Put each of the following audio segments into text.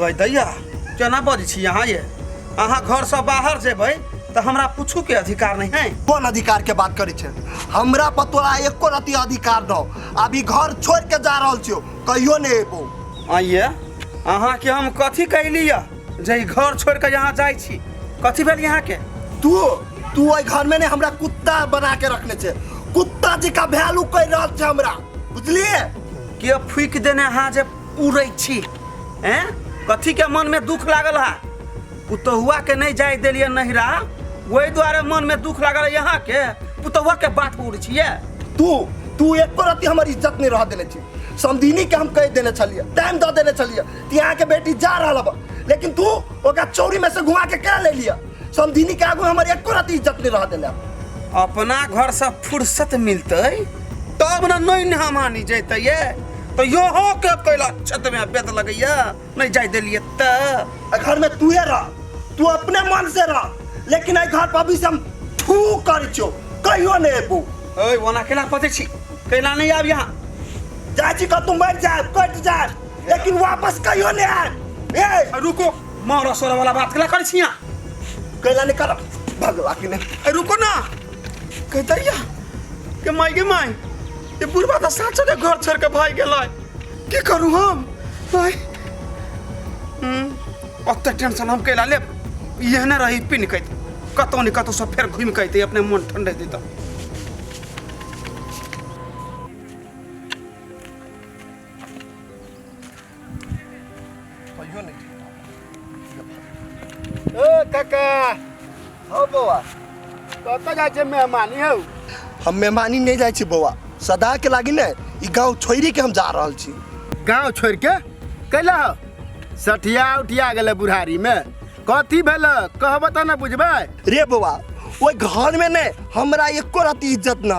गई दैया केना बजै छी अहाँ ये अहाँ घर से बाहर जेबै तऽ हमरा पूछू के अधिकार नहीं है कोन अधिकार के बात करै छै हमरा पर तोरा एको रति अधिकार दो अभी घर छोड़ के जा रहल छियो कहियो नहीं एबो आइए अहाँ के हम कथी कैली यऽ जे ई घर छोड़ के यहाँ जाइ छी कथी भेल यहाँ के तू तू ओहि घर में ने हमरा कुत्ता बना के रखने छे कुत्ता जी का वैल्यू कर रहल छे हमरा बुझलिए के फूक देने अहाँ जे उड़ै छी हैं कथी के मन में दुख लागल है पुतहुआ के नहीं जाय देलिए नहिरा वही द्वारे मन में दुख लागल है यहाँ के पुतहुआ के बात पर उड़ै छिए तू तू एको रति हमर इज्जत नहीं रह देले छी समदीनी के हम कह देले छलिए टाइम द देले छलिए कि यहाँ के बेटी जा रहा बा लेकिन तू ओकरा चौरी में से घुमा के कह ले लिया समधिनी के आगू हमर एको रात इज्जत नहीं रह देला अपना घर से फुर्सत मिलते तब न नहीं ने हमानी जैते ये तो यहो के कैला छत में बेद लगैया नहीं जाय देलिए त आ घर में तू है रह तू अपने मन से रह लेकिन आई घर पर अभी से हम थू कर छो कहियो नहीं एबू ओए वना केला पते छी कैला नहीं आब यहाँ जाए छी कतू मर जाए कट जाए लेकिन वापस कहियो नहीं आए ए रुको मारा सोरा वाला बात कला कर छिया कैला निकल भगवा के ने ए, रुको ना कहतरिया के माई के माई ये बुढ़वा तो साथ साथ घर छोड़ के भाई गेल की करू हम भाई हम्म, ओते टेंशन हम कैला ले यह ना रही पिन कैत कतौ ने कतौ सब फेर घूम कैते अपने मन ठंडे देता काका हौ बौआ कतऽ जाइ छै मेहमानी हौ हम मेहमानी नहीं जाए छी बौआ सदा के लागी ने ई गांव छोड़ी के हम जा रहल छी गांव छोड़ के कैला हौ सठिया उठिया गेलै बुढ़ारी में कथी भेल कहबऽ तऽ ने बुझबै रे बौआ ओइ घर में ने हमरा एको राती इज्जत ना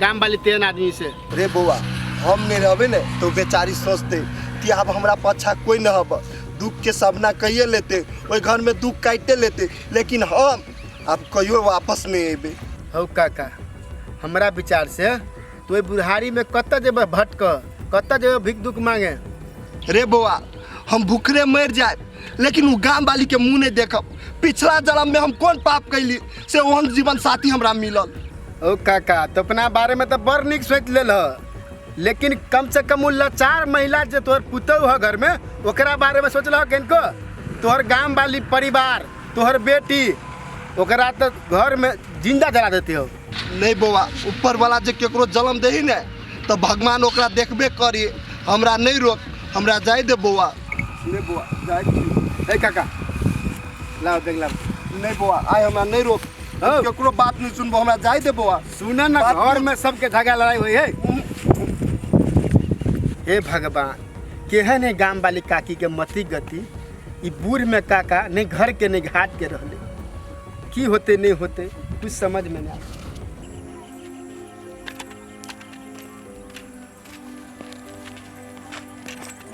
गाम वाली तेन आदमी से रे बौआ हम नहीं रहबे ने तो बेचारी सोचते कि अब हमरा पाछा कोई न हब दुख के सामना कहिए लेते ओहि घर में दुख काटते लेते लेकिन हम अब कहियो वापस नहीं अबे हौ काका हमरा विचार से तू एहि बुढ़ारी में कत जेबह भटक कत जेबह भिक दुख मांगे रे बौआ हम भूखरे मर जाए लेकिन उ गांव वाली के मुंह नहीं देखब पिछला जन्म में हम कौन पाप कैली से ओहन जीवन साथी हमरा मिलल ओ काका तो अपना बारे में तो बड़ निक सोच लेल ह लेकिन कम से कम उ लाचार महिला जे तोहर पुतौ ह घर में ओकरा बारे में सोचल किनको तोहर गांव वाली परिवार तोहर बेटी ओकरा तो घर में जिंदा जला देते हो नहि बौआ ऊपरवला जे केकरो जन्म दही ने तऽ भगवान ओकरा देखबे करी हमरा नहि रोक हमरा जाय दे बौआ नहि बौआ जाय छी ए काका लाओ देख लाओ नहि बौआ आइ हमरा नहि रोक हँ। केकरो बात नहि सुनबो हमरा जाय दे बौआ सुनऽ ना बात- घर में सबके झगड़ा लड़ाई होई है हे भगवान केहन है गांव वाली काकी के मति गति ई बूढ़ में काका नहीं घर के नहीं घाट के रहले की होते नहीं होते कुछ समझ में नहीं आता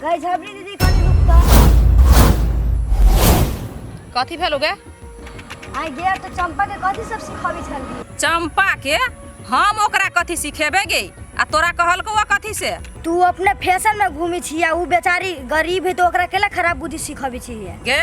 गई झबरी दीदी कनी रुक तो कथी भेल गे आई गेर तो चंपा के कथी सब सिखावे छल चंपा के हम ओकरा कथी सिखेबे गे आ तोरा कहल को कथी से तू अपने फैशन में घूमी छिया उ बेचारी गरीब है तो ओकरा केला खराब बुद्धि सिखावे छिया गे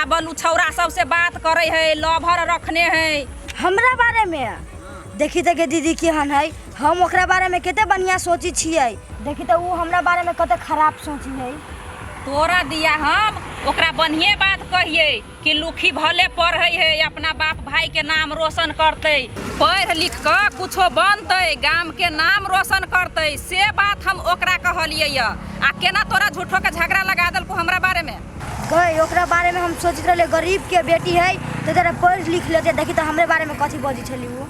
आ बलू छौरा सबसे बात करे है लवर रखने है हमरा बारे में देखी देखी दीदी केहन है हम ओकरा बारे में कते बढ़िया सोची छियै देखी तऽ ऊ हमरा बारे में कते खराब सोची है तोरा दिया हम ओकरा बढ़िए बात कहिए कि लुखी भले पढ़े है अपना बाप भाई के नाम रोशन करते पढ़ लिख के कुछो बनते गाम के नाम रोशन करते से बात हम ओकरा कहलिए आ केना तोरा झूठो के झगड़ा लगा देलको हमरा बारे में गई ओकरा बारे में हम सोचते रहले गरीब के बेटी है तो जरा पढ़ लिख लेते देखी तो हमरे बारे में कथी बजी छली वो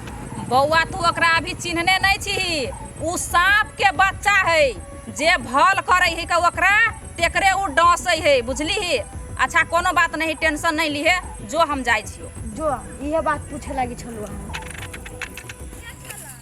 बौआ तू ओकरा अभी चिन्हने नहीं छी उ सांप के बच्चा है जे भल करे है का ओकरा तेकरे उ डसे है बुझली ही अच्छा कोनो बात नहीं टेंशन नहीं लिहे जो हम जाई छियो जो इहे बात पूछे लगी छलू हम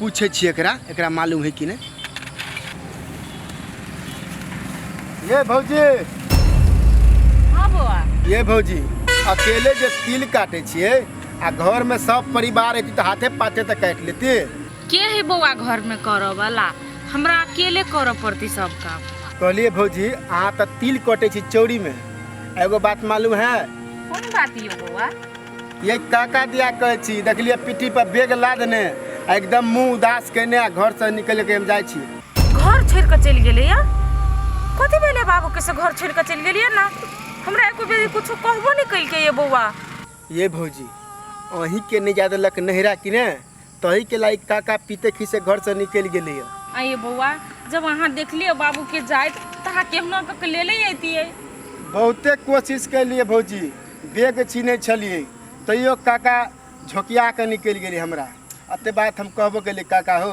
पूछे छी एकरा एकरा मालूम है कि नहीं ये भौजी हाँ बौआ ये भौजी अकेले जे तिल काटे छिए आ घर में सब परिवार एती तो हाथे पाथे तो काट लेती के है बौआ घर में करऽ वाला हमरा अकेले करऽ पड़ती सब काम कहलिए भौजी अहाँ तो तिल कटे छी चौरी में एगो बात मालूम है कौन बात ये बौआ ये काका दिया कहै छी देखलियै पीठी पर बेग लादने आ एकदम मुंह उदास केने आ घर से निकल के हम जाय छी घर छोड़ के चल गेले या कथी भेले बाबू के से घर छोड़ के चल गेलिए ना हमरा एको बेर कुछ कहबो नहीं कइल के ये बौआ ये भौजी अहीं के नहीं जादे लक नहरा कि ने तही के लाइक काका पीते खीसे घर से निकल गेली है आइए बौआ जब अहाँ देखलिए बाबू के जाइत तो अहाँ केहना कऽ के ले ले अइतियै बहुते कोशिश कैलिए भौजी बेग छीने छलिए तैयो काका झोकिया के निकल गेली हमरा अते बात हम कहबो गेली काका हो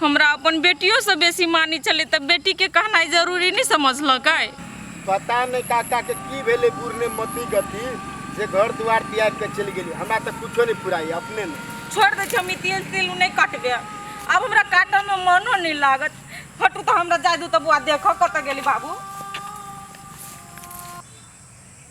हमरा अपन बेटियो सँ बेसी मानी छलै त बेटी के कहनाइ जरूरी नहि समझलकै। पता नहि काका के की भेलै बुढ़ ने मति गति जे घर दुआर तियागि के चलि गेलै। हमरा त किछो नहि फुराइए अपने ने। छोड़ि दै छी हम ई तिल तिल नहि कटबै आब हमरा काटऽ मे मनो नहि लागत। हटू त हमरा जाय दू त बौआ देखऽ कतऽ गेलै बाबू।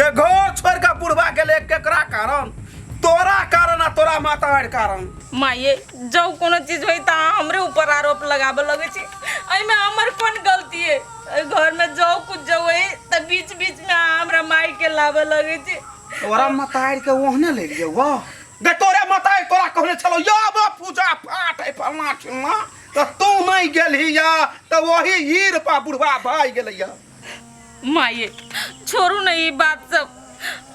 गे घर छोड़ के बुढ़वा गेले केकरा कारण तोरा कारण आ तोरा मातार कारण माये जब कोनो चीज होई त अहाँ हमरे ऊपर आरोप लगाबे लगे छी एहिमे हमर कोन गलती है एहि घर में जो कुछ जो होई त बीच बीच में अहाँ हमरा माई के लाबे लगे छी तोरा मतार के ओहने ले लिए वाह गे तोरे मतार तोरा कहने छलो या बा पूजा पाठ है फलना चिलना त तू नहीं गेलही या त वही ई रूपा बुढ़वा भाई गेलै या माये छोड़ू ने ई बात सब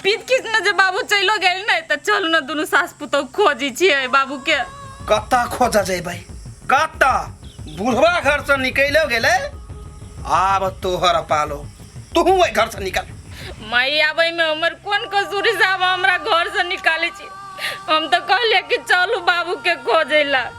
पीत खींच ने जे बाबू चलो गए ने तो चलू ने दोनों सास पुतौ खोजी छिए बाबू के कत्ता खोजा जेबै कत्ता बुढ़वा घर से निकलो गेले आब तोहर पालो तू ओहि घर से निकल माई आबै में हमर कोन कसूरी साहब हमरा घर से निकाले छी हम तो कहले कि चलू बाबू के खोजे ला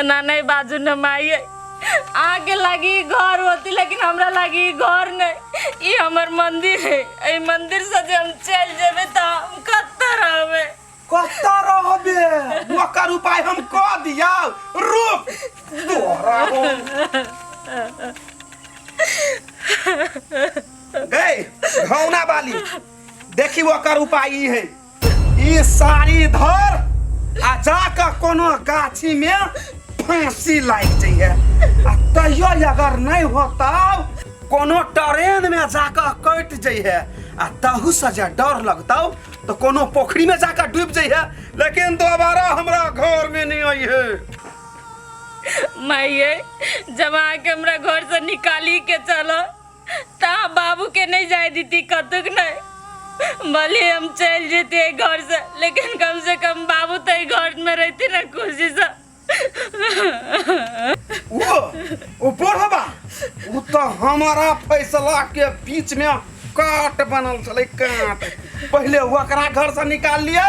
एना नहीं बाजू न माई अहाँ के लागी ई घर होती लेकिन हमरा लागी ई घर नहीं ई हमर मंदिर है ई मंदिर से जे हम चल जेबे तो हम कत्ता रहबे कत्ता रहबे ओकर उपाय हम क दिया रुक तोरा गए घौना बाली देखी ओकर उपाय ई है ई साड़ी धर आ जाके कोनो गाछी में फांसी लाग जाइए आ कहियो अगर नहीं होता कोनो ट्रेन में जाके कट जाइए आ तहू से जे डर लगता तो कोनो पोखरी में जाके डूब जाइए लेकिन दोबारा हमरा घर में नहीं आइए माइये जमा के हमरा घर से निकाली के चलो तहाँ बाबूके नहि जाय दीती कतुक नहि भले हम चलि जैती एहि घरसँ लेकिन कमसँ कम बाबू तऽ एहि घरमे रहिती ने खुशीसँ ओ ओ पढ़बा ओ तऽ हमारा फैसला के बीच में काट बनल छलै काट पहिले ओकरा घर से निकाल लियो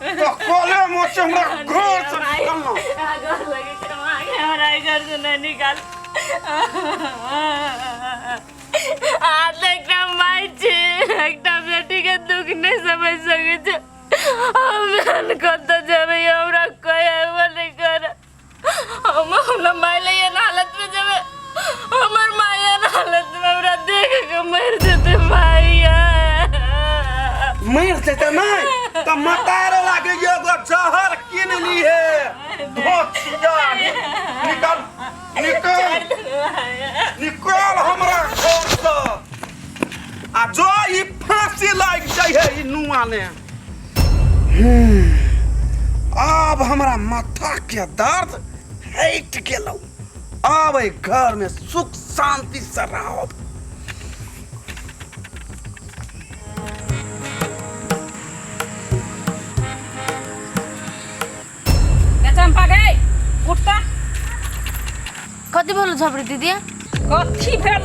तो कोले मोचे हमरा घर से निकलना घर लगे के मांग हमरा ई घर से नहीं निकाल आज तक ना माई छी एकटा बेटी के दुख नहीं समझ सके छी हम जान कत जबे हमरा कोई अगवा नहीं कर हम अपना माय ले ये हालत में जब हमर माय ये हालत में हमरा देख के मर देते भाई मर से त नहीं त मतार लागे ये गो जहर किन ली है बहुत सीधा निकल निकल निकल हमरा घर से आ जो ई फांसी लाग जाय है ई नुआ ने आब हमरा माथा के दर्द हट गेलौ आब एहि घर में सुख शांति से रहब ए चंपा गई उठ तो कति भेलो झपडी दिदी कथी भेल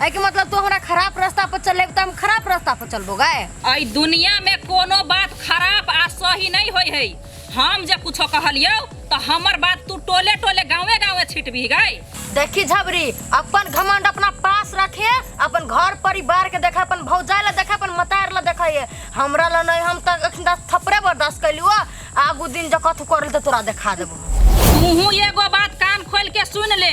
एहि के मतलब तू हमरा खराब रास्ता पर चले त हम खराब रास्ता पर चलबो गाय एहि दुनिया में कोनो बात खराब आ सही नहीं होय है हम जे कुछो कहलियो तो हमर बात तू टोले टोले गाँवे गाँवे छिटबी गई देखी झबरी अपन घमंड अपना पास रखे अपन घर परिवार के देखे अपन भौजाई ला देखे अपन मतार ला देखे ये हमरा ला नहीं हम तक अखन तक थपरे बर्दाश्त कैलू आगू दिन जब कथू करल तो तोरा देखा देबो तूहू एगो बात कान खोल के सुन ले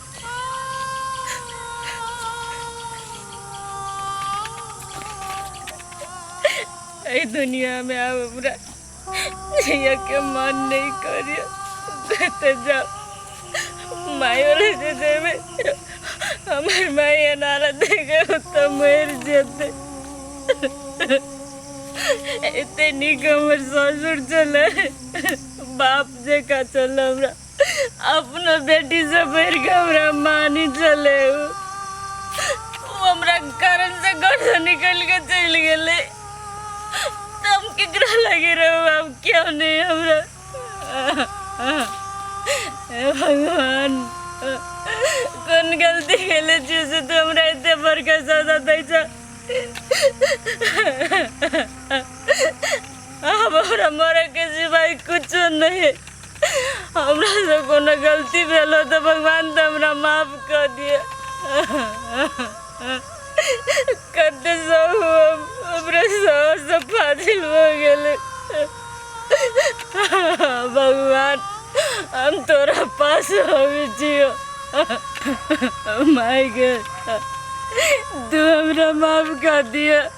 एहि दुनियामे आब हमरा जियके मन नहि करैए जतऽ जाउ मायो लऽ जे देबै हमर माय एनारा देखे तऽ मरि जेतै एते नीक हमर ससुर छलै बाप जकाँ छलै हमरा अपना बेटी से बढ़ के हमरा मानी चले हो। वो हमरा कारण से घर से निकल के चल गेले तो हम केकरा लगे रहो अब क्यों नहीं हमरा हे भगवान कौन गलती केले छी से तू हमरा एते बड़का सजा दै छ अब हमरा मरे के सिवाय कुछो नहीं है हमरा से कोनो गलती भेल हो तऽ भगवान तऽ हमरा माफ कऽ दिअ कते सब हम अपने सास से फाजिल हो गेले भगवान हम तोरा पास अबै छियो माय गे तू हमरा माफ कऽ दिअ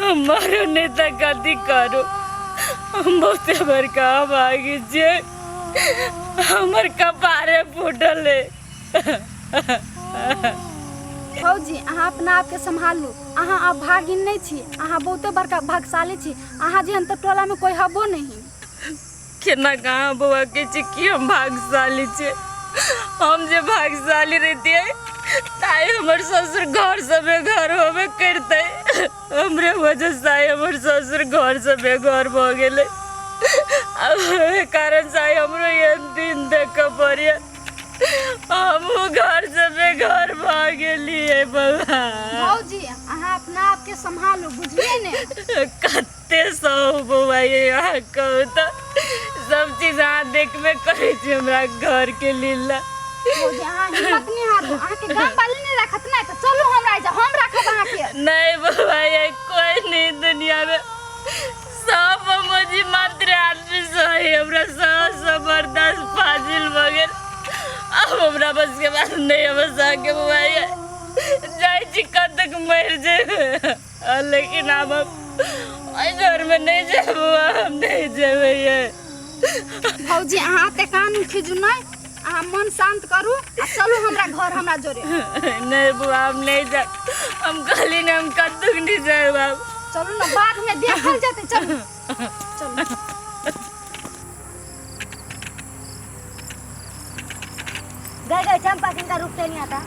हमारो नेता गद्दी करो हम बहुत हमार काम आगे जे हमर कपारे फूटल है फौजी अहाँ अपना आपके सम्हालू अहाँ आब भागिन नहि छी अहाँ बहुते बड़का भागशाली छी अहाँ जेहन तऽ टोलामे कोइ हबो नहि केना कहाँ बौआ के छी कि हम भाग्यशाली छी हम जे भाग्यशाली रहतियै ताई हमर ससुर घर से बेघर होबे करते हमरे वजह से आइ हमर ससुर घर से बेघर भ गेलै अब एहि कारण से आइ हमरो ये दिन देख पड़िया हमहूँ घर से बेघर भ गेलियै बौआ भौजी अहाँ अपना आपके सम्हालू बुझलियै ने कत एते सब बौआ ये यहाँ कहू तो सब चीज अहाँ देखबे करे छी हमरा घर के लीला भौजी अहाँ हिम्मत नहीं हारू अहाँ के गांव वाले नहीं रखत नहीं तो चलू हमरा जा हम रखब अहाँ के नहीं बौआ ये कोई नहीं दुनिया में सब मुझे मात्र आदमी सही हमरा सब जबरदस्त फाजिल बगैर अब हमरा बस के बात नहीं हम सके बौआ ये जाय छी कब तक मर जाए लेकिन आब एहि घरमे नहि जेबो हम नहि जेबै भौजी अहाँ ते कान खीजू नहि अहाँ मन शांत करू आ चलू हमरा घर हमरा जोरे नहीं बुआ हम नहीं जा हम कहली ने हम कतुक नहीं जाए बाब चलू ना बाद में देखल जाते चलू चलू गए गए चंपा किनका रूप से नहीं आता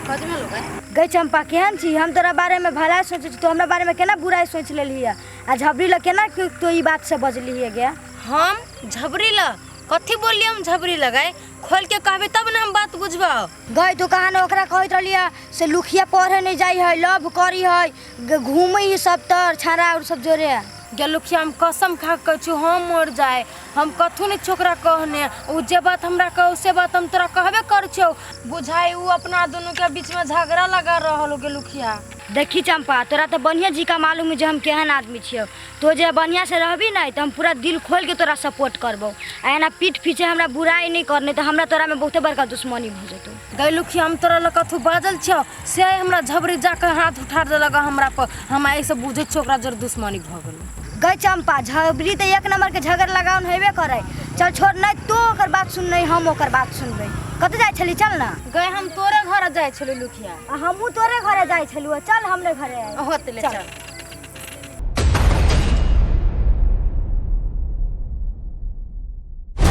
कथी में लोग है गई चंपा केहन छी हम तोरा बारे में भला सोचे छी तो हमरा बारे में केना बुराई सोच लेली है आ झबरी ल केना तू तो ई बात से बजली है गया हम झबरी ल कथी बोलली हम झबरी लगाए खोल के कहबे तब ना हम बात बुझबा गई तो कहा न ओकरा कहत रहली है से लुखिया पढ़े नहीं जाई है लव करी है ग- घूमे ई सब तर छाड़ा और सब जोरे गेलुखिया हम कसम खा के कहै छी हम मर जाए हम कथू ने छोकरा कहने उ जे बात हमरा कहू से बात हम तोरा कहबे कर छौ बुझाई उ अपना दुनू के बीच में झगड़ा लगा रहल हो गेलुखिया देखी चंपा तोरा तो बढ़िया जी का मालूम है जे हम केहन आदमी छियो तो जे बढ़िया से रहबी नहीं तो हम पूरा दिल खोल के तोरा सपोर्ट करबो आ एना पीठ पीछे हमरा बुराई नहीं करने तो हमरा तोरा में बहुते बड़का दुश्मनी भऽ जेतौ गैलू कि हम तोरा लऽ कथू बाजल छियौ से आइ हमरा झबरी जाके हाथ उठा देलक हमरा पर हम आइ से बुझै छियौ ओकरा जर दुश्मनी भऽ गेल गई चंपा झबरी तो एक नंबर के झगड़ लगाउन हेबे करे चल छोड़ नहीं तू ओकर बात सुन नहीं हम ओकर बात सुनबे कत जाय छली चल ना गए हम तोरे घर जाय छली लुखिया आ हमहू तोरे घरे जाय छलू चल हमरे घरे आय। होत ले चल